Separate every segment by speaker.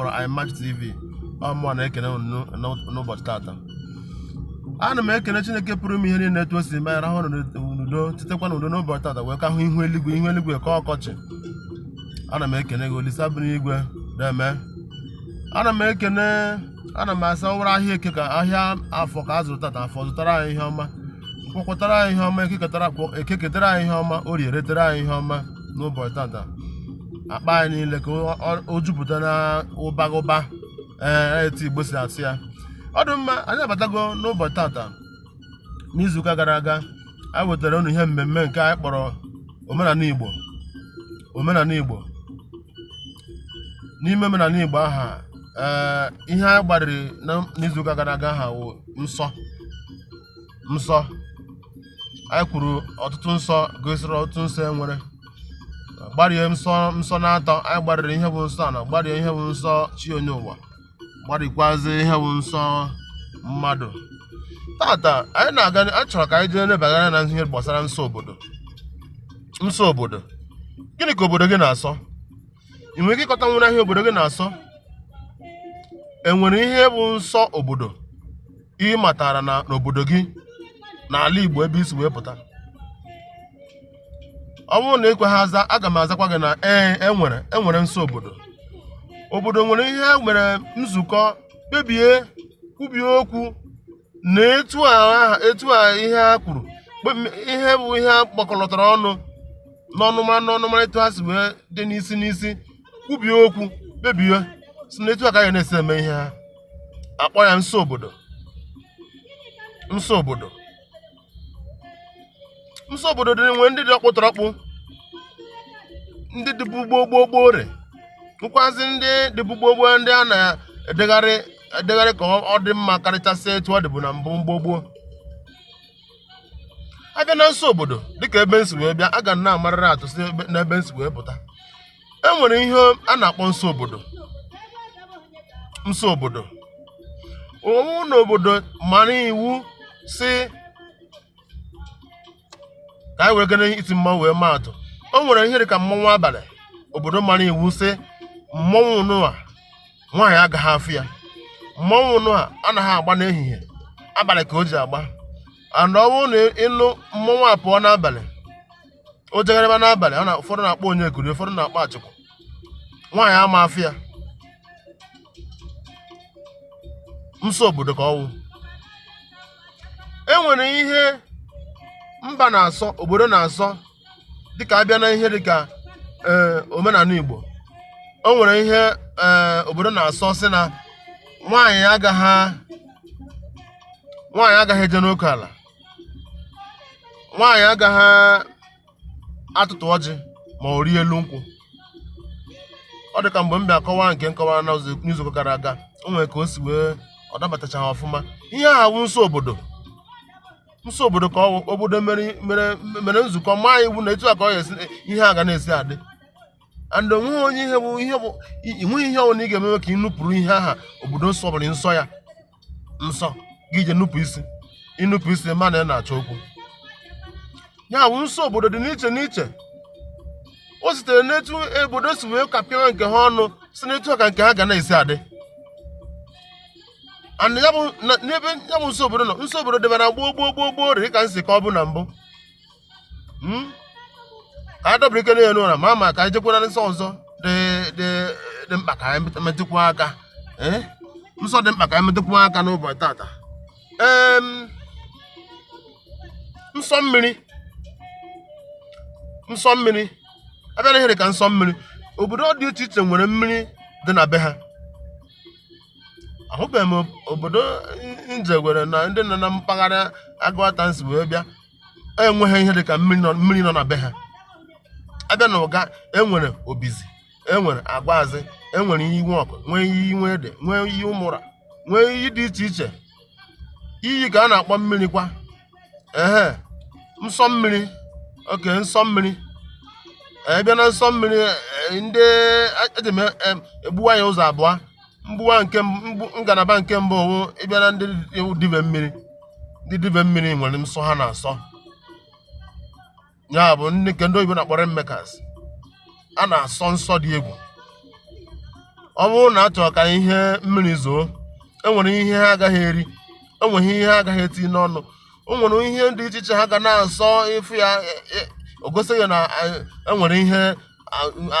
Speaker 1: kpọrọ iMax TV ọmụọ na-ekene unu n'ụbọchị tata ana m ekene Chineke pụrụ ime ihe niile etu o si mee anyị rahụ n'udo tetekwa n'udo n'ụbọchị tata wee ka hụ ihu eluigwe ihu eluigwe ka ọkọchị ana m ekene gị Olisa bi n'igwe deeme ana m ekene ana m asị ọ wụrụ ahịa eke ka ahịa afọ ka a zụrụ tata afọ zụtara anyị ihe ọma nkwọ kwọtara anyị ihe ọma eke ketara kwọ- eke ketara anyị ihe ọma orie retara anyị ihe ọma n'ụbọchị tata akpa anyị niile ka ọ- ọ- o jupụta na ụba ụba ee etu igbo si asị ya ọ dị mma anyị abatago n'ụbọchị tata n'izuụka gara aga anyị wetara unu ihe mmemme nke anyị kpọrọ omenala igbo omenala igbo n'ime omenala igbo aha ee ihe anyị gbariri na- n'izuụka gara aga aha wụ nsọ nsọ anyị kwuru ọtụtụ nsọ gosiri ọtụtụ nsọ e nwere gbarie nsọ nsọ na atọ anyị gbariri ihe bụ nsọ ana gbarie ihe bụ nsọ chi onye ụwa gbarikwazi ihe bụ nsọ mmadụ tata anyị na-aga a chọrọ ka anyị jee lebagara anya na ihe gbasara nsọ obodo nsọ obodo gịnị ka obodo gị na-asọ ị nwere ike ịkọta nwere ihe obodo gị na-asọ enwere ihe bụ nsọ obodo ị matara na n'obodo gị n'ala Igbo ebe i si wee pụta ọ bụrụ na ekweha aza aga m azakwa gị na ee enwere enwere nsọ obodo obodo nwere ihe e nwere nzukọ kpebie kwubie okwu na etu a aha- etu a ihe ha kwuru bụ m- ihe bụ ihe a gbakọlọtara ọnụ n'ọnụmara n'ọnụmara etu ha si wee dị n'isi n'isi kwubie okwu kpebie sị na etu a ka anyị na-esi eme ihe ha akpọ ya nsọ obodo nsọ obodo nsọ obodo dị e nwere ndị dị ọkpụtọrọkpụ ndị dịbu gboo gboo gboo e nwekwazị ndị dịbu gboo gboo ndị a na-edegharị edegharị ka ọ dị mma karịchasịa etu ọ dịbu na mbụ gboo gboo a bịa na nsọ obodo dịka ebe m si wee bịa aga m na-amarịrị atụ si n'ebe m si wee pụta e nwere ihe a na-akpọ nsọ obodo nsọ obodo ọ wụ na obodo mara iwu sị ka anyị weregonu iti mmanwụ wee maa atụ o nwere ihe dị ka mmọnwụ abalị obodo mara iwu sị mmọnwụ nụa nwaanyị agaghị afụ ya mmọnwụ nụa anaghị agba n'ehihie abalị ka o ji agba and ọ bụrụ na ị nụ mmọnwụ apụọ n'abalị o jegharịba n'abalị ọ na ụfọdụ na-akpọ onyekuru ụfọdụ na-akpọ achikwu nwaanyị ama afụ ya nsọ obodo ka ọ wụ e nwere ihe mba na-asọ obodo na-asọ dịka a bịa na ihe dịka ee omenala igbo o nwere ihe ee obodo na-asọ sị na nwaanyị agaghị nwaanyị agaghị eje n'oke ala nwaanyị agaghị atụtụ ọjị ma ọ rie elu nkwụ ọ dị ka mgbe m bịa kọwaa nke m kọwara n'izuụka gara aga o nwere ka o si wee ọ dabatachaghị ọfụma ihe aha wụ nsọ obodo nsọ obodo ka ọ wụ obodo mere mere nzukọ maa iwu na etu a ka ọ ga-esi ihe a ga na-esi adị and o nweghị onye ihe bụ ihe bụ enweghị ihe ọbụla ị ga-emewe ka ị nupụrụ ihe aha obodo nsọ bụrụ nsọ ya nsọ gị je nupụ isi i nupụ isi ma na ị na-achọ okwu ya bụ nsọ obodo dị n'iche n'iche o sitere n'etu obodo si wee kapịa nke ha ọnụ sị na etu a ka nke ha ga na-esi adị and ya bụ na- n'ebe ya bụ nsọ obodo nọ nsọ obodo dịbara gboo gboo gboo gboo dị ka m si kọwabu na mbụ hmm? ka anyị dọbara ike n'elu ụra ma ma ka anyị jekwara nsọ ọzọ dị mkpa ka anyị metụkwu aka eh? nsọ dị mkpa ka anyị metụkwu aka n'ụbọchị tata nsọ mmiri nsọ mmiri a bịa na ihe dị ka nsọ mmiri obodo dị iche iche nwere mmiri dị na be ha ahụbeghị m obodo m jegwere na ndị nọ na mpaghara aguata m si wee bịa enweghị ihe dị ka mmiri nọ mmiri nọ na be ha a bịa na uga e nwere obizi e nwere agwazi e nwere iyi nwa ọkụ nwee iyi nwa ede nwee iyi ụmụra nwee iyi dị iche iche iyi ka a na-akpọ mmiri kwa ehe nsọ mmiri okay nsọ mmiri a bịa na nsọ mmiri eh, ndị eje m eh, egbuwa ya ụzọ abụọ mgbuwa nke ngalaba nke mbụ wụ ị bịa na ndị dibe mmiri ndị dibe mmiri nwere nsọ ha na-asọ ya bụ ndị nke ndị oyibo na-akpọ rainmakers a na-asọ nsọ dị egwu ọ bụrụ na a chọrọ ka ihe mmiri zoo e nwere ihe ha agaghị eri e nwee ihe ha agaghị eti n'ọnụ o nwere ihe dị iche iche ha ga na-asọ ị fụ ya e, e, o gosi gị na e nwere ihe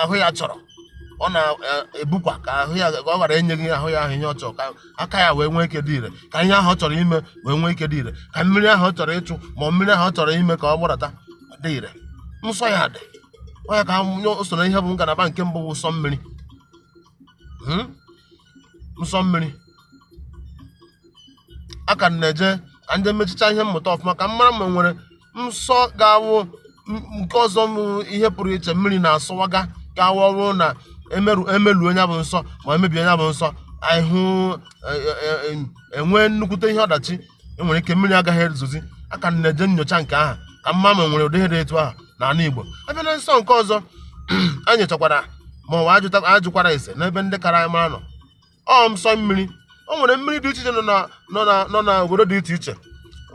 Speaker 1: ahụ ya chọrọ ọ na-ebukwa ka ahụ ya ọ ghara enyeghị ahụ ya ahụ ihe ọ chọrọ ka aka ya wee nwee ike dị ire ka ihe ahụ ọ chọrọ ime wee nwee ike dị ire ka mmiri ahụ ọ chọrọ ịchụ ma mmiri ahụ ọ chọrọ ime ka ọ gbadata dị ire nsọ ya dị ọ ya ka o so na ihe bụ ngalaba nke mbụ bụ nsọ mmiri hmm? nsọ mmiri a ka m na-eje ka m je mechicha ihe mmụta ọfụma ka m mara ma nwere nsọ ga-awụ m- nke ọzọ m ihe pụrụ iche mmiri na-asọwaga ga-awụ ọ wụrụ na emeru emeluo ya bụ nsọ ma emebie ya bụ nsọ ahụ enwee nnukwute ihe ọdachi enwere ike mmiri agaghị ezozi a ka m na-eje nyocha nke aha ka m ma ma nwere ụdị ihe dị etu aha na ala Igbo a bịa na nsọ nke ọzọ anyị nyochakwara ma ọ wụ ajụkwara ase n'ebe ndị kara anyị mara nọ ọ nsọ mmiri o nwere mmiri dị iche iche nọ na obodo dị iche iche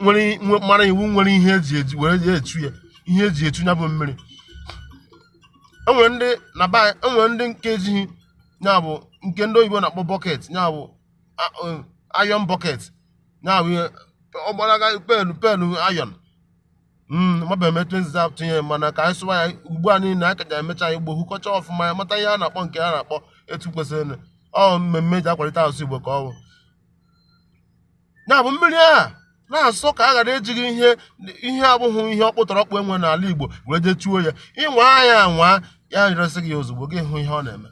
Speaker 1: nwere mara iwu nwere ihe eji eji were ya echu ya ihe eji echu ya bụ mmiri enwere ndị na enwere ndị nke ejighị ya bụ nke ndị oyibo na-akpọ bucket ya bụ iron bucket nya bụ ihe ọgbalaga pail pail iron maba emetụ nziza tụnye mana ka anyị sụwa ya ugbu a niile anyị ka ja-emecha ya igbo hụkọcha ọfụma ya mata ihe a na-akpọ nke a na-akpọ etu kwesịrị ọ mmemme ji akwalite asụsụ igbo ka ọ bụ ya bụ mmiri a na-asọ ka a ghara ejighị ihe ihe abụghị ihe ọkpụtọrọkpụ enwe n'ala igbo wee je chuo ya ị nwaa ya anwa ya resị gị ozugbo gị hụ ihe ọ na-eme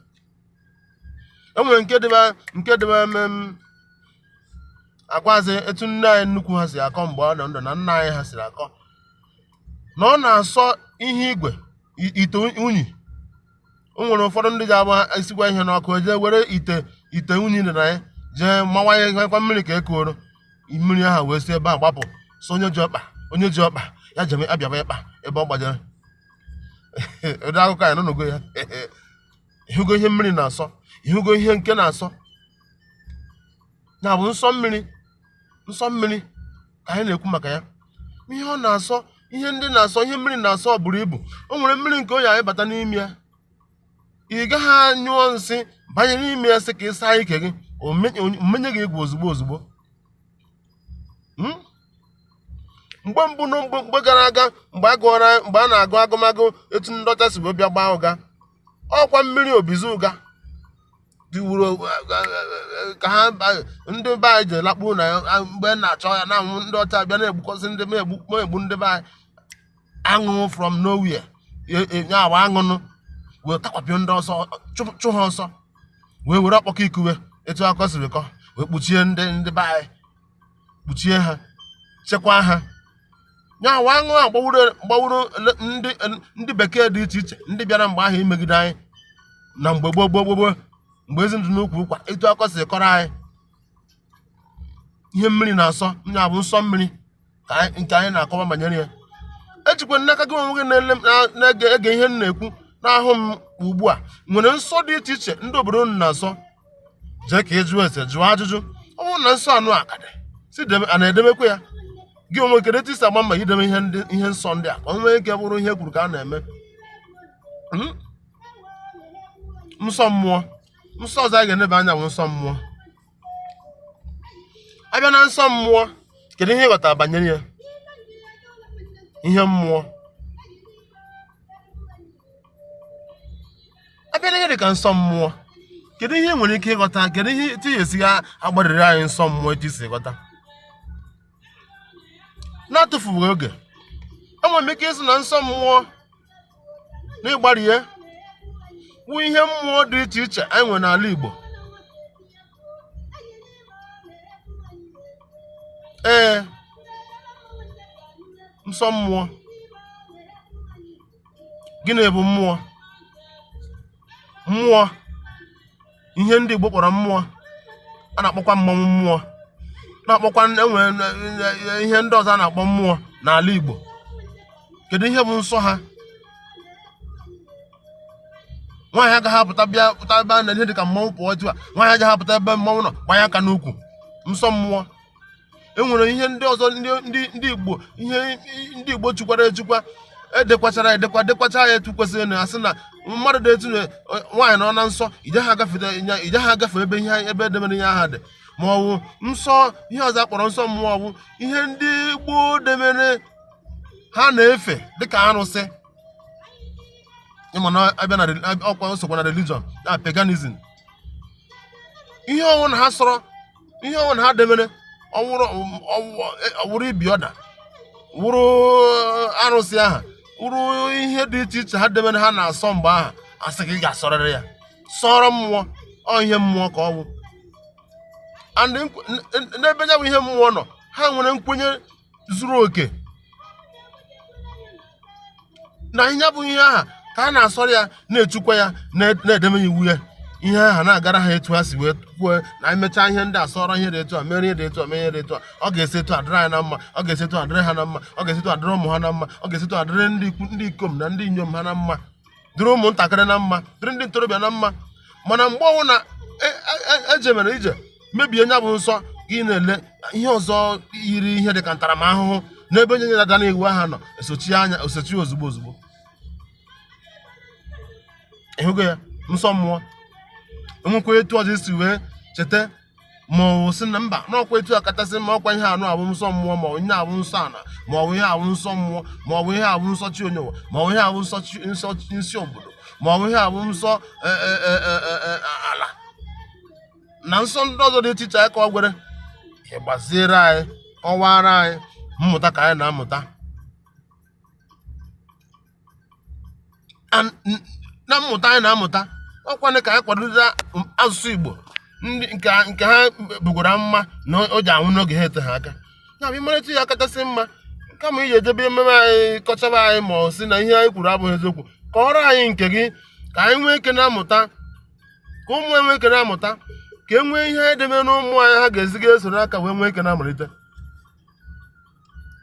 Speaker 1: e nwere nke dịba nke dịba mm, agwazi etu nne anyị nnukwu ha si akọ mgbe ọ nọ ndụ na nna anyị ha siri akọ na ọ na-asọ ihe igwe i- ite unyi o nwere ụfọdụ ndị ja-abụ esikwa ihe n'ọkụ e jee were ite ite unyi dị na ya jee mawanyekwa mmiri ka e kuoro mmiri ahụ wee si ebe a gbapụ so onye ji ọkpa onye ji ọkpa ya jeme abịaba ịkpa ebe ọ gbajere ụdị akụkọ anyị nụnụgo ya ịhụgo ihe mmiri na-asọ ịhụgo ihe nke na-asọ ya bụ nsọ mmiri nsọ mmiri ka anyị na-ekwu maka ya ihe ọ na-asọ ihe ndị na-asọ ihe mmiri na-asọ buru ibu o nwere mmiri nke oyi anyị bata n'ime ya ị gaghị anyụọ nsị banye n'ime ya sị ka ị saa ike gị o menye gị egwu ozugbo ozugbo hmm? mgbe mbụ na mgbe gara aga mgbe a gụọra mgbe a na-agụ agụmagụ etu ndị ọcha si wee bịa gbaa ụga ọ kwa mmiri obizi ụga diwuru ka ha ndị be anyị ji lakpuo na mgbe na-achọ ya na anwụ ndị ọcha bịa na-egbukọsị ndị m egbu ndị be anyị aṅụ from nowhere nya wa aṅụ nụ wee takwapịa ndị ọcha chụ- chụ ha ọsọ wee were ọkpọkọ ikuwe etu akọ siri kọ wee kpuchie ndị ndị be anyị kpuchie ha chekwaa ha nya wa aṅụ a gbawuru gbawuru ele- ndị ndị bekee dị iche iche ndị bịara mgbe ahụ imegide anyị na mgbe gboo gboo gboo gboo mgbe ezi dị n'ukwu ụkwa etu akọ siri kọrọ anyị ihe mmiri na-asọ nya bụ nsọ mmiri ka anyị- nke anyị na-akọwa banyere ya ejikwa n'aka gị onwe gị na-ele m- na- na-ege ege ihe m na-ekwu na-ahụ m ugbu a nwere nsọ dị iche iche ndị obodo unu na-asọ jee ka ị jụọ ese jụọ ajụjụ ọ bụrụ na nsọ anụ a ka dị si debe a na-edemekwa ya gị onwe kedu etu i si agba mbọ ideme ihe ndị ihe nsọ ndị a ka o nwee ike bụrụ ihe kwuru ka a na-eme Mhm. nsọ mmụọ nsọ ọzọ anyị ga-eneba anya bụ nsọ mmụọ a bịa na nsọ mmụọ kedu ihe ị ghọtara banyere ya ihe mmụọ a bịa na ihe dị ka nsọ mmụọ kedu ihe i nwere ike ịghọta kedu ihe etu ị ya-esi agbarịrị anyị nsọ mmụọ etu i si ghọta n'atụfughị oge enwere m ike ịsị na nsọ mmụọ na ịgbarị ya wụ ihe mmụọ dị iche iche anyị nwere n'ala Igbo ee nsọ mmụọ gịnị bụ mmụọ mmụọ ihe ndị Igbo kpọrọ mmụọ a na-akpọkwa mmanwụ mmụọ na-akpọkwa enwere ihe ndị ọzọ a na-akpọ mmụọ n'ala Igbo kedu ihe bụ nsọ ha nwaanyị agaghị apụta bịa pụta ebe a na ihe dị ka mmanwụ pụọ otu a nwaanyị agaghị apụta ebe mmanwụ nọ gbanye aka n'ukwu nsọ mmụọ enwere ihe ndị ọzọ ndị Igbo ihe ndị Igbo chukwara echukwa edekwachara edekwa dekwacha ya etu kwesịrị na a sị na mmadụ dị etu nwaanyị nọ na nsọ ijeha agafe ebe ihe ebe e demere ihe aha dị ma ọ bụ nsọ ihe ọzọ a kpọrọ nsọ mmụọ ọ bụ ihe ndị gboo demere ha na-efe dịka arụsị ị ma na a bịa na ọkwa sokwa na religion na paganism ihe ọ wụna ha sọrọ ihe ọ wụna ha demere ọ wụrụ ibi ọda wụrụ uh, arụsị aha wụrụ ihe dị iche iche ha demere ha na-asọ mgbe aha a sị gị ị ga-asọrịrị ya sọrọ mmụọ ọ ihe mmụọ ka ọ wụ and n'ebe ya bụ ihe mmụọ nọ ha nwere nkwenye zuru oke na ya bụ ihe aha ka a na-asọrọ ya na-echukwa ya na-edeme iwu ya ihe aha na-agara ha etu ha si wee kwuo na e mechaa ihe ndị asọrọ ihe dị etu a mere ihe dị etu a mee ihe dị etu a ọ ga-esi etu a dịrị anyị na mma ọ ga-esi etu a dịrị ha na mma ọ ga-esi etu a dịrị ụmụ ha na mma ọ ga-esi etu a dịrị ndị ikom na ndị inyom ha na mma dịrị ụmụntakịrị na mma dịrị ndị ntorobịa na mma mana mgbe ọ wụna ejemere e, e, e ije mebie nya bụ nsọ gị na-ele ihe ọzọ yiri ihe dị ka ntaramahụhụ n'ebe onye nyere ada n'iwu aha nọ esochi nya esochi ozugbo ozugbo ị hụgo ya nsọ mmụọ enwekwa etu ọzọ i si wee cheta ma ọ sị na mba n'ọkwa etu a kachasị mma ọkwa ihe anụ a bụ nsọ mmụọ ma ọ bụ ihe a bụ nsọ ana ma ọ bụ ihe a bụ nsọ mmụọ ma ọ bụ ihe a bụ nsọ chi onye ụwa ma ọ bụ ihe a bụ nsọ obodo ma ọ bụ ihe a bụ nsọ e, e, e, ala na nsọ ndị ọzọ dị iche iche anyị ka ọ gwere ị gbaziere anyị kọwara anyị mmụta ka anyị na-amụta And n- na mmụta anyị na-amụta ọkwanụ ka anyị kwadota m- asụsụ igbo ndị nke ha- nke ha bugoro amụma na o je-anwụ n'oge na-eteghị aka ya bụ ị marịta ya kachasị mma kama iji ejebe ememe anyị kọchaba anyị ma ọ sị na ihe anyị kwuru abụghị eziokwu kọọrọ anyị nke gị ka anyị nwee ike na-amụta ka ụmụ anyị nwee ike na-amụta ka e nwee ihe e debe n'ụmụ anyị ha ga-eziga esoro aka wee nwee ike na-amalite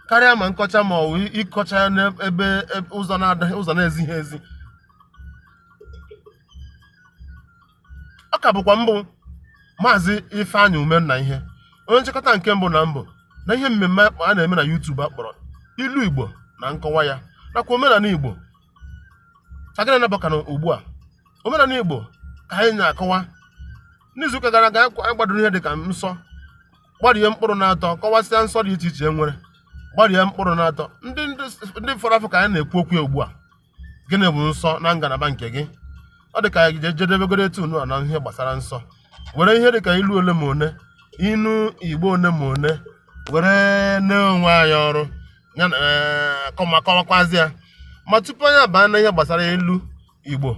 Speaker 1: karịa ma nkọcha ma ọ bụ ịkọcha ya n'ebe ebe- ụzọ na-adaghị ụzọ na-ezighị ezi ọ ka bụkwa m bụ maazị ifeanyị umennaihe onye nchịkọta nke mbụ na mbụ na ihe mmemme a na-eme na YouTube a kpọrọ ilu igbo na nkọwa ya nakwa omenala igbo ka anyị na-abaka na ugbu a omenala igbo ka anyị na-akọwa n'izuụka gara aga anyị gbadoro ihe dịka nsọ gbara ihe mkpụrụ n'atọ kọwasịa nsọ dị iche iche e nwere gbara ihe mkpụrụ n'atọ ndị ndị fọrọ afọ ka anyị na-ekwu okwu ugbu a gịnị bụ nsọ na ngalaba nke gị ọ dị ka anyị je jedebegoro etu nunwa na ihe gbasara nsọ were ihe dị ka ilu ole ma one inu igbo one ma one were nye onwe anyị ọrụ ya na eh, kọma kọwakwazi ya ma tupu anyị abaa na ihe gbasara ilu igbo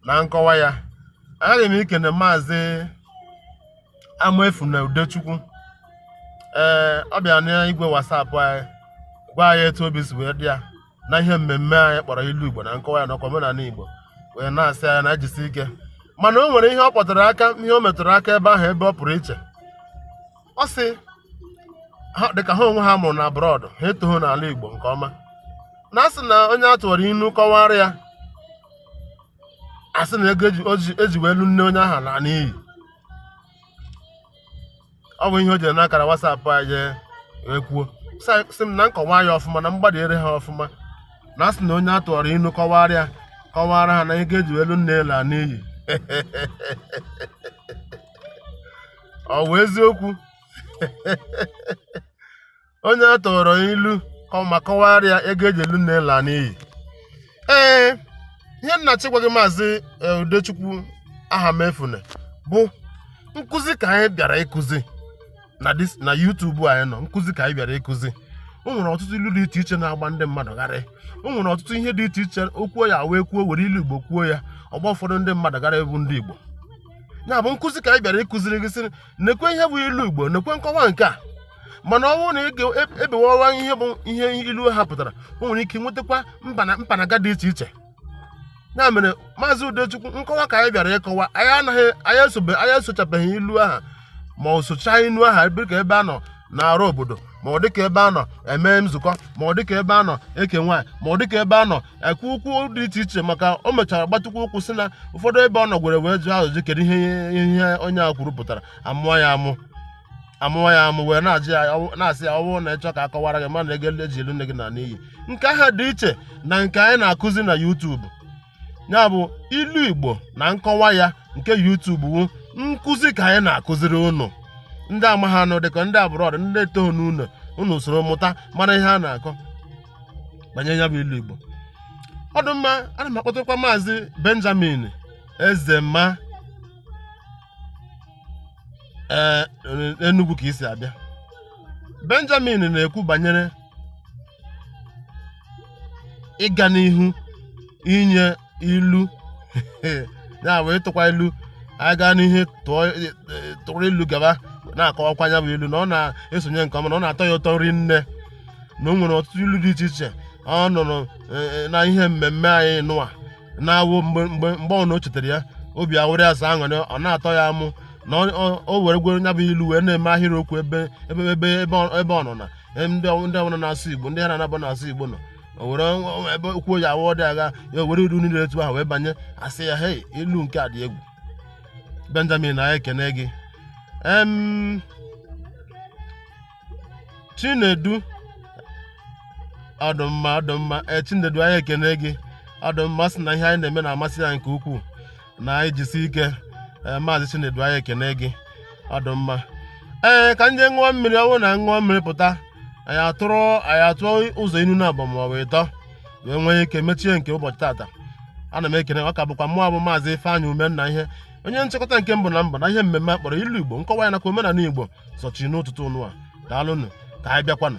Speaker 1: na nkọwa ya aghaghị m ikene maazị Amaefuna Udechukwu ee ọ bịara n'igwe WhatsApp anyị gwa anyị etu obi si wee dị ya na ihe mmemme anyị kpọrọ ilu Igbo na nkọwa ya nakwa omenala Igbo wee na-asị anyị na-ejisi ike mana o nwere ihe ọ kpọtụrụ aka ihe o metụrụ aka ebe ahụ ebe ọ pụrụ iche ọ sị dịka ha onwe ha a mụrụ na abroad ha etoghị n'ala Igbo nke ọma na a sị na onye a tụwara inu kọwara ya a sị na ego e ji wee lụ nne onye ahụ naa n'iyi ọ bụ ihe o jere n'akara WhatsApp anyị wee kwuo sị m na m kọwaa ya ọfụma na m gbaziere ha ọfụma na a sị na onye a tụwara inu kọwara ya kọwara ha na ego e ji wee lụ nne laa n'iyi ọ wụ eziokwu onye a tụọrọ ilu ka ọ ma kọwara ya ego e ji wee lụ nne laa n'iyi ee ihe m na-achọ ịgwa gị maazị e, udechukwu ahamefune bụ nkụzi ka anyị bịara ịkụzi na this na YouTube anyị nọ nkụzi ka anyị bịara ịkụzi o nwere ọtụtụ ilu dị iche iche na-agba ndị mmadụ gharị o nwere ọtụtụ ihe dị iche iche o kwuo ya wee kwuo were ilu igbo kwuo ya ọ gbaa ụfọdụ ndị mmadụ gharị bụ ndị igbo ya bụ nkụzi ka anyị bịara ịkụziri gị sị nekwe ihe bụ ilu igbo nekwe nkọwa nke a mana ọ bụrụ na ị ga-ebewawa e, ihe bụ ihe ilu ha pụtara o nwere ike nwetakwa mpanaga dị iche iche ya mere maazị udechukwu nkọwa ka anyị bịara ịkọwa anyị anaghị anyị esobe anyị esochabeghị ilu aha ma ọ sochaa ilu aha dịka ebe a nọ na-arụ obodo ma ọ dịka ebe a nọ eme nzukọ ma ọ dịka ebe a nọ eke nwaanyị ma ọ dịka ebe a nọ ekwu okwu dị iche iche maka o mechara gbatụkwa ụkwụ sị na ụfọdụ ebe ọ nọ gwere wee jụọ ajụjụ kedu ihe ihe onye a kwuru pụtara amụọ ya amụ amụọ ya amụ wee na-ajụ ya ọwụ- na-asị ya ọwụ na ị chọ ka a kọwara gị ma na ego e ji lụ nne gị na n'iyi nke ahụ dị iche na nke anyị na-akụzi na YouTube ya bụ ilu Igbo na nkọwa ya nke YouTube wu nkụzi ka anyị na-akụziri unu ndị amaghị anụ dịka ndị abroad ndị etoghị n'ụlọ unu soro mụta mara ihe a na-akọ banyere ya bụ ilu igbo ọ dị mma ana m akpọtakwa maazị benjamin ezema ee enugwu ka i si abịa benjamin na-ekwu banyere ịga n'ihu inye ilu ya bụ ịtụkwa ilu anyị gaa n'ihu tụọ tụrụ ilu gaba na-akọwakwa ya bụ ilu na ọ na-esonye nke ọma na ọ na-atọ ya ụtọ rinne na o nwere ọtụtụ ilu dị iche iche ọ nụrụ na ihe mmemme anyị nụwa na-awụ mgbe mgbe mgbe ọbụla o chetara ya obi awụrụ ya sọ aṅụrị ọ na-atọ ya amụ na o were gwere ya bụ ilu wee na-eme ahịrịokwu ebe ebe ebe ebe ọ nọ na ndị ndị ọbụla na-asụ igbo ndị ha na-anabụ na-asụ igbo nọ o nwere ebe okwu ya awụ ọ dị agha ya o were ilu niile etu ahụ wee banye a sị ya hei ilu nke a dị egwu benjamin anyị ekene gị em chinedu ọdụmma ọdụmma ee chinedu anyị ekene gị ọdụmma sị na ihe anyị na-eme na-amasị ya nke ukwuu na anyị jisi ike ee maazị Chinedu anyị ekene gị ọ dị mma ee ka m je ṅụọ mmiri ọ bụrụ na a ṅụọ mmiri pụta anyị atụrụ anyị atụọ ụzọ inu naabọ maọbụ ịtọ wee nwee ike mechie nke ụbọchị tata ana m ekene ọ ka bụkwa mụ bụ maazị Ifeanyị Umenna ihe onye nchịkọta nke mbụ na mbụ na ihe mmemme a kpọrọ ilu Igbo nkọwa ya nakwa omenala Igbo sochiri n'ụtụtụ nụwa daalụnụ ka anyị bịakwanụ